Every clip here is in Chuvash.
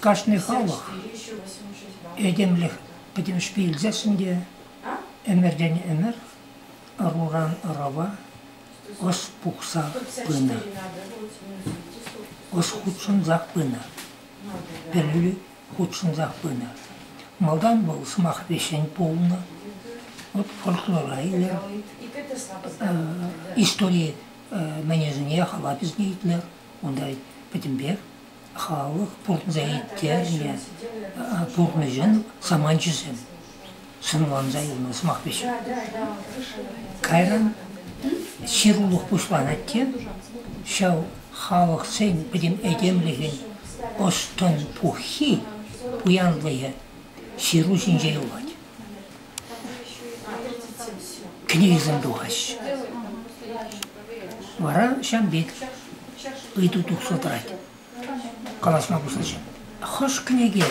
Кашни халӑх этемлӗх пӗтӗмӗшпе илсессӗн те ӗмӗртен ӗмӗр ӑруран ӑрӑва ӑс пухса пынӑ, ӑс хутшӑнсах пынӑ. Пӗлӳ хутшӑнсах пынӑ. Малтан вӑл сӑмах вӗҫҫӗн пулнӑ. Вӑт фольклора илер. Истори мӗнӗсене халап излейтнӗ. Унта пӗтӗмпех халӑх пурӑнса ирттернӗ пурнӑҫӑн саманчӗсем. сӑнланса илмен сӑмахпа ҫук. Кайран ҫырулӑх пуҫланать те ҫав халӑхсен пӗтӗм этемлӗхӗн ӑс-тӑн пуххи, пуянлӑхӗ ҫыру ҫинче юлать. Кӗнекесем тухаҫҫӗ. Вара ҫам пек ыйту тухса тӑрать. калаҫма пуҫлаҫҫӗ. Хӑш кӗнеке?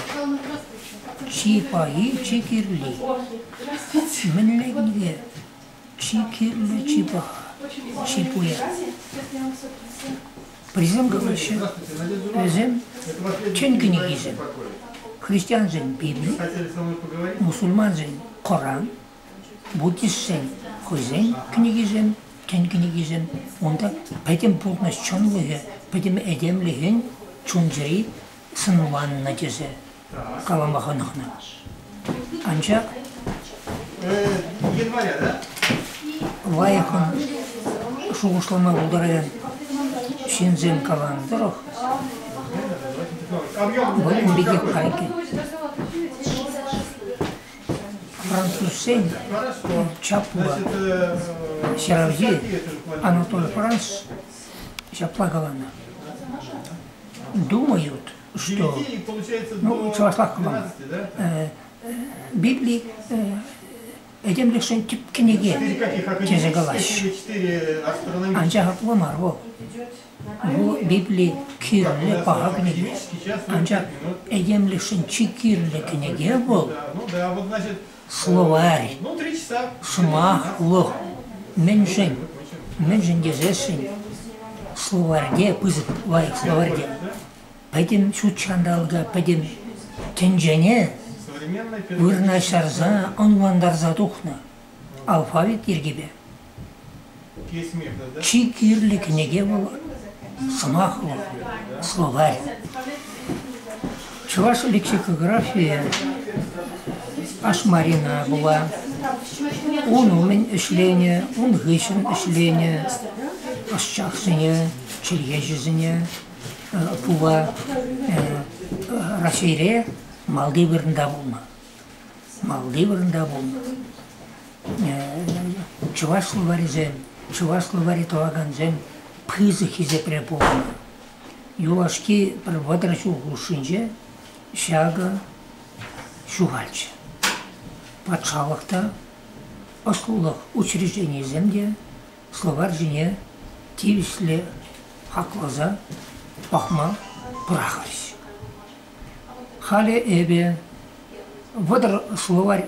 Чи паи, чи кирли. Мӗнле кӗнеке? Чи кирлӗ, чи паха, чи пуян. Присем калаҫҫӗ. Вӗсем чӑн кӗнекисем. Христиансен Библи, мусульмансен Коран, Буддистсен хӑйсен кӗнекисем, тӗн кӗнекисем унта пӗтӗм пурнӑҫ чӑнлӑхӗ, пӗтӗм этемлӗхӗн чун-чӗри сӑнланнӑ тесе калама хӑнӑхнӑ. Анчах лайӑхӑн шухӑшлама пултаракан ҫынсем каланӑ тӑрӑх вӑл ун пекех кайӑк. Французсен чапура ҫыравҫи Анатолий Франц ҫапла каланӑ. Думают, что, ну, чӑвашлах каланӑ, Библи этемлӗхшӗн тӗп кӗнеке тесе калаҫҫӗ. Анчах апла мар вӑл. Ку Библи кирлӗ паха кӗнеке. Анчах этемлӗхшӗн чи кирлӗ кӗнеке вӑл словарь, сӑмахлӑх. Мӗншӗн? Мӗншӗн тесессӗн словарьте пысӑк лайӑх словарьте пӗтӗм ҫут ҫанталӑка, пӗтӗм тӗнчене вырнаҫтарса, ӑнлантарса тухнӑ. алфавит йӗркипе. Чи кирли кӗнеке пулӑ, сӑмахлӑ словарь. Чӑваш лексикографийӗ Ашмарина була. Ун умӗн ӗҫленӗ, ун хыҫҫӑн ӗҫленӗ ӑсчахсене, чӗлхеҫӗсене пула Раҫҫейре малти вырӑнта пулнӑ. малти вырӑнта пулнӑ. Чӑвашлӑ варисем, чӑвашлӑ вари тӑвакансем пысӑк хисепре пухнӑ. Юлашки пӗр вӑтӑр ҫул хушшинче ҫакӑ ҫухалчӗ. Патшалӑх та, ӑслӑлӑх учрежденийӗсем те словарь ҫине тивӗҫлӗ хакласа пӑхма пӑрахрӗҫ. Халӗ эпӗ вӑтӑр словарь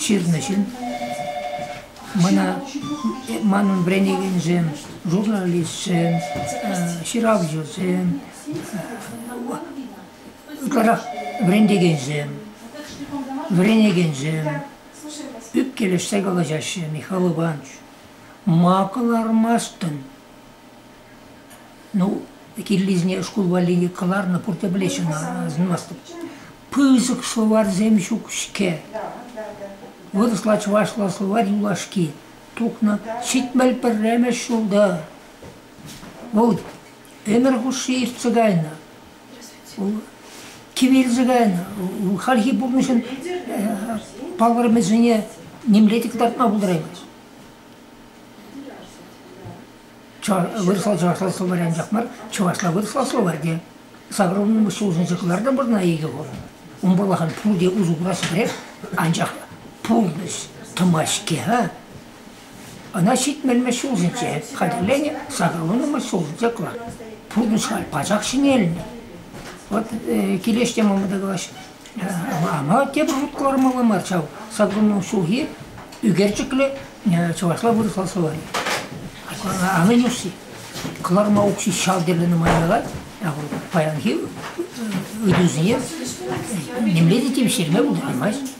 ҫырнӑ ҫын. Мана манӑн вӗренекенсем журналистсем, ҫыравҫӑсем, ытларах вӗрентекенсем, вӗренекенсем ӳпкелешсе калаҫаҫҫӗ Михал Иванович. Ма кӑлармастӑн? Ну, кирлисене шкул валли кӑларнӑ пурте пӗлеҫҫӗ ӑна, асӑнмастӑп. Пысӑк словарьсем ҫук-ҫке. Вырӑсла, чӑвашла словарь юлашки тухнӑ. Ҫитмӗл пӗрремӗш ҫулта вӑл ӗмӗр хушши иртсе кайнӑ. Вӑл кивелсе кайнӑ. Хальхи пурнӑҫӑн палӑрӑмӗсене нимле те кӑтартма пултараймасть. вырӑслӑ чӑвашла словарь анчах мар, чӑвашла вырӑсла словарьте саврӑмӑш сулшӑнса кӑлартнӑ вырӑна икӗ хут. Ун пурлахан пурте усӑ курас пӗрех, анчах пурнӑҫ тӑма-ҫке, а? Ӑна ҫитмелмӗш ҫулсенче хатӗрленӗ, сакӑрланӑмӑш ҫулсенче кӑлар. Пурнӑҫ халь пачах ҫӗнелнӗ. Вот килеш те мамада калаҫ, Ама тепӗр хут кӑлармалла мар ҫав. Саккунның ҫулхи ӳкерчӗклӗ чӑвашла вырӑсла словари. Аны нюси. Кӑларма укҫи ҫав тӗрлӗ нумайлатать. Ҫавӑн паянхи ыйтусене нимле те тивӗҫтерме пултармасть.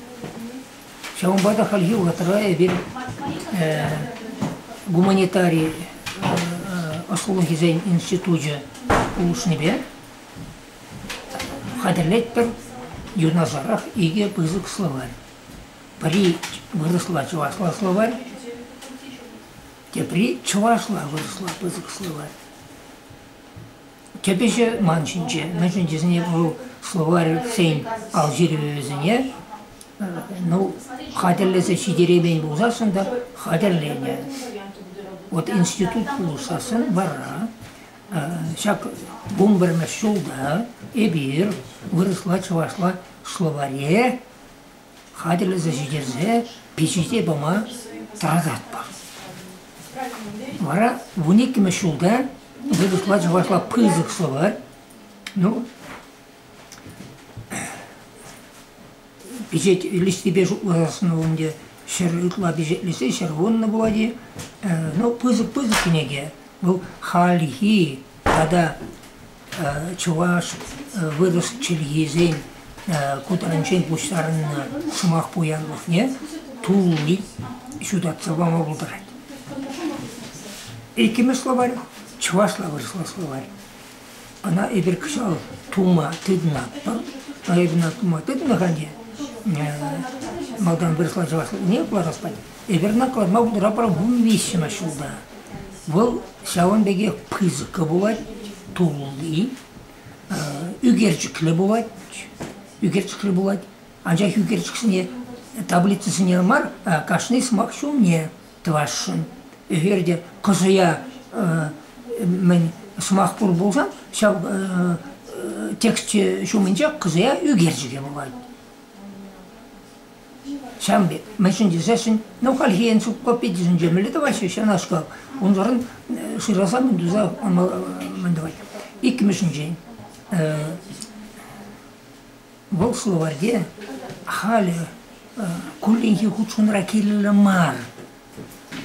Ҫавӑнпа та хальхи вӑхӑтра эпир гуманитари ӑслӑлӑхӗсен институчӗ пулӑшнипе Хатӗрлетпӗр юнашарах икӗ пысӑк словарь. Пӗри вырӑсла чӑвашла словарь, тепри чӑвашла вырӑсла пысӑк словарь. Тӗпӗчӗ ман ҫинче, мӗншӗн тесен вӑл словарь хӑйӗн алҫырӑвӗсене ну, хатӗрлесе ҫитереймен пулсассӑн та хатӗрленӗ. Вот институт пулӑшсассӑн варра Ҫак вунпӗрмӗш ҫулта эпир вырӑсла-чӑвашла словаре хатӗрлесе ҫитерсе пичете пама тӑрататпӑр. Вара вун иккӗмӗш ҫулта вырӑсла-чӑвашла пысӑк словарь, ну, пичет илӗҫнипе шутласассӑн ӗнтӗ ҫӗр ытла пичетлесе ҫӗр вуннӑ пулать-и. Ну, пысӑк-пысӑк кӗнеке. Вӑл хальхи тата чӑваш вырӑс чӗлхисен ку таранччен пуҫтарӑннӑ сӑмах пуянлӑхне тулли ҫутатса пама пултарать. Иккӗмӗш словарь чӑвашла вырӑсла словарь. Ӑна эпир кӑҫал тума тытӑнатпӑр. Та эпир ӑна тума тытӑнаканне малтан вырӑсла чӑвашлатнине кӑларас патне эпир ӑна кӑларма пултаратпӑр виҫҫӗмӗш ҫулта. Вӑл ҫавӑн пекех пысӑккӑ пулать, тулли, ӳкерчӗклӗ пулать, ӳкерчӗклӗ пулать. Анчах ӳкерчӗксене, таблицӑсене мар, кашни сӑмах ҫумне. тӑвасшӑн. Эгер те кӑшӑя мӗн сӑмах пур пулсан, ҫав тексчӗ ҫумӗнче кӑшӑя ӳкерчӗке пулать. Ҫавӑн пек, мӗншӗн тесессӗн, ну, хальхи энциклопедисен темелле тӑваҫҫӗ ҫавнашкал. Унсӑрӑн шыраса мӗн туса мӗн тӑвать. Иккӗмӗшӗнчен, Вӑл словарьте халӗ кулленхи хутшӑнура кирлӗ мар.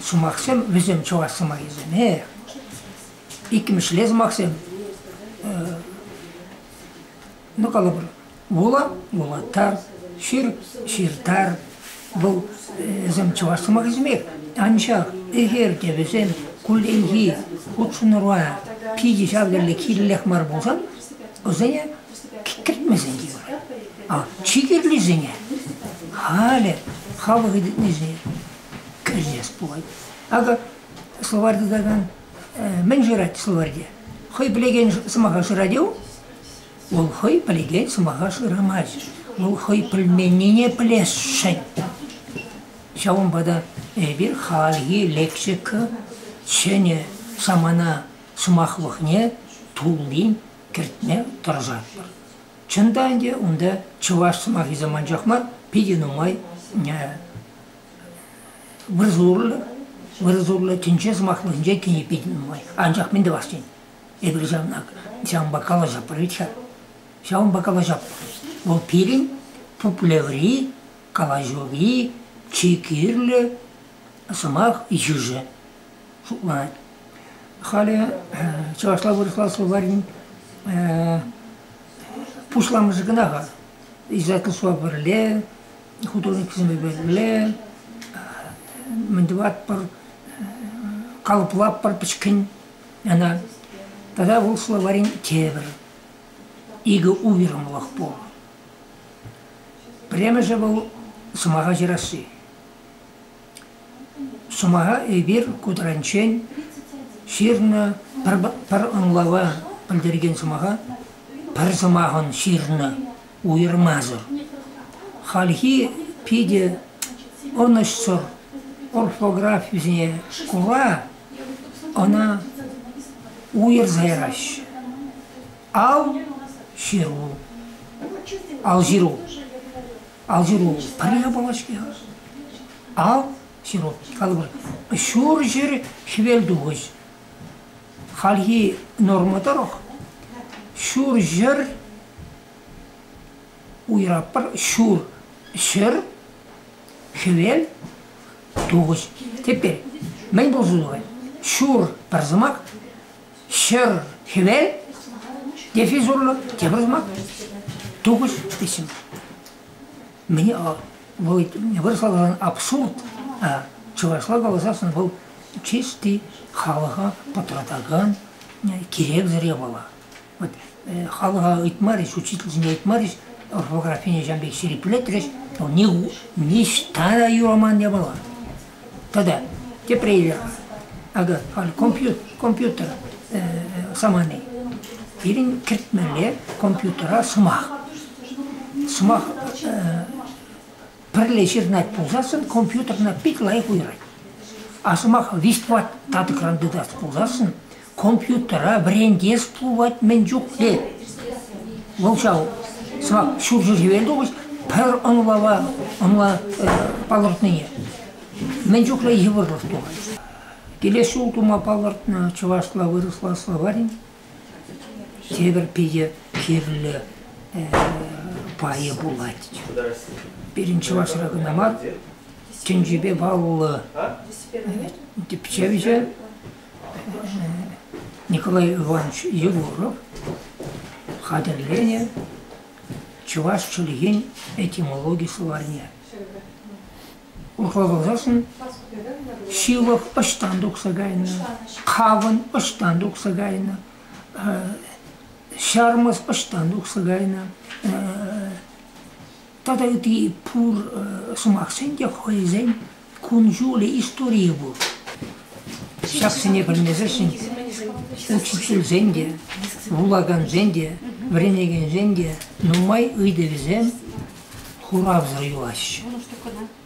Сӑмахсем вӗсем чӑваш сӑмахӗсемех. Иккӗмӗшле сӑмахсем ну калӑпӑр вула вулатар, ҫыр ҫыртар. Вӑл вӗсем чӑваш сӑмахӗсемех. Анчах ӗҫер те вӗсем кулленхи хутшӑнура питӗ ҫав тери кирлех мар пулсан, вӗсене Кӗтмесен те юрать. А чи кирлисене халӗ хапӑ хытӑтнисене кӗрсес пулать. Акӑ словарь тытакан мӗн шырать словарьте? Хӑй пӗлекен сӑмаха шырать-и Вӑл хӑй пӗлекен сӑмаха шырамасть. Вӑл хӑй пӗлменнине пӗлесшӗн. Ҫавӑнпа та эпир хальхи лексика ҫӗнӗ самана сӑмахлӑхне туллин кӗртме тӑрӑшатпӑр. Чӑн та ӗнтӗ унта чӑваш сӑмахӗсем анчах мар, питӗ нумай вырсурлӑ, вырсурлӑ тӗнче сӑмахлӑхӗнче тени питӗ нумай. Анчах мӗн тӑвас тен, эпир ҫавна, ҫавӑнпа калаҫатпӑр ведь-ха. Ҫавӑнпа калаҫатпӑр. Вӑл пирӗн пуплеври, калаҫури чи кирлӗ сӑмах йышӗ. шутлать. Халӗ чӑвашла вырӑсласлӑ варин пусламӑшӗ кӑна-ха. Израильтла суа пӗрле, художниксемпе пӗрле, мӗн тӑватпӑр, калӑплатпӑр пӗчкен ӑна. Тата вӑл словарин тепӗр икӗ уйрӑмлӑх пур. Пӗрремӗшӗ вӑл сӑмаха ҫырасси. Сӑмаха эпир кудрянччен ҫырнӑ пӗр ӑнлава пӗлтерекен сӑмаха пӗр сӑмахӑн ҫырнӑ уйӑрмасӑр. Хальхи питӗ ӑнӑҫсӑр орфографисене кура ӑна уйӑрса яраҫҫӗ. Ал ҫыру. Ал ҫыру. ал ҫыру пӗрле пулать-ҫке. Ал ҫыру, калӑпӑр, ҫур ҫӗр хӗвел тухӑҫ. Хальхи норма тӑрӑх ҫур ҫӗр уйраппӑр ҫур ҫӗр хӗвел тухӑҫ. Теперь мӗн пулса тухать? Ҫур пӗр сӑмах Ҫӗр хӗвел дефис урлӑ тепӗр сӑмах тухӑҫ ӗҫӗ. Мне вӑл вырӑсларан абсурд, а чӑвашла каласан вӑл чисти халӑха пӑтратакан киревсӗр япала. Вот халӑха ыйтмарӗҫ, учительсене ыйтмарӗҫ, орфографине ҫавӑн пек ҫирӗплетрӗҫ, но ниҫта та юраман япала. Тогда тепре илер. Акӑ, компьютер самани. Пирӗн кӗртмелле компьютера сӑмах. Сӑмах пӗрле ҫырнать пулсассӑн компьютерна пит лайӑх уйӑрать. А сӑмах виҫ-тӑват татӑкран тытас пулсассӑн Компьютера вӗрентес пулать мӗн чухлӗ. Вӑл ҫав сӑвак ҫурҫӗр-хӗвелтухӑҫ пӗр ӑнлава ӑнла палӑртнине мӗн чухлӗ йывӑрлӑх тухать. Килес ҫул тума палӑртнӑ чӑвашла вырӑсла словарь тепӗр питӗ кирлӗ пайӗ пулать. Пирӗн чӑвашра кӑна мар, тӗнчепе паллӑ тӗпчевҫӗ Николай Иванович Егоров хатӗрленӗ чӑваш чӗлхин этимологи словарьне. Урӑхла каласан, ҫывӑх ӑҫтан тухса кайнӑ, хавӑн ӑҫтан тухса кайнӑ, ҫармӑс ӑҫтан тухса кайнӑ, Тата ытти пур сӑмахсен те хӑйсен кун-ҫулӗ, историйӗ пур. Ҫаксене пӗлмесӗршӗн учительсен те, вулакансен те, вӗренекенсен те нумай ыйтӑвӗсем хуравсӑр юлаҫҫӗ.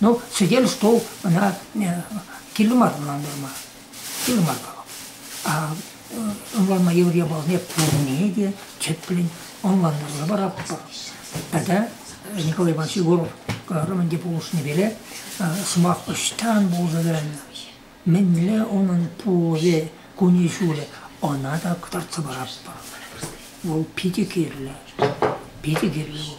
Ну, сӗтел, стол ӑна кирлӗ мар ӑнлантарма. Кирлӗ мар вӑл. А ӑнланма йывӑр япаласене пурне те тӗплӗн ӑнлантарса паратпӑр. Тата Николай Иванович Егоров романти пулӑшнипеле сӑмах ӑҫтан пулса мӗнле унӑн пулӑвӗ, кунӗ-ҫулӗ ӑна та кӑтартса паратпӑр. Вӑл питӗ кирлӗ. Питӗ кирлӗ вӑл.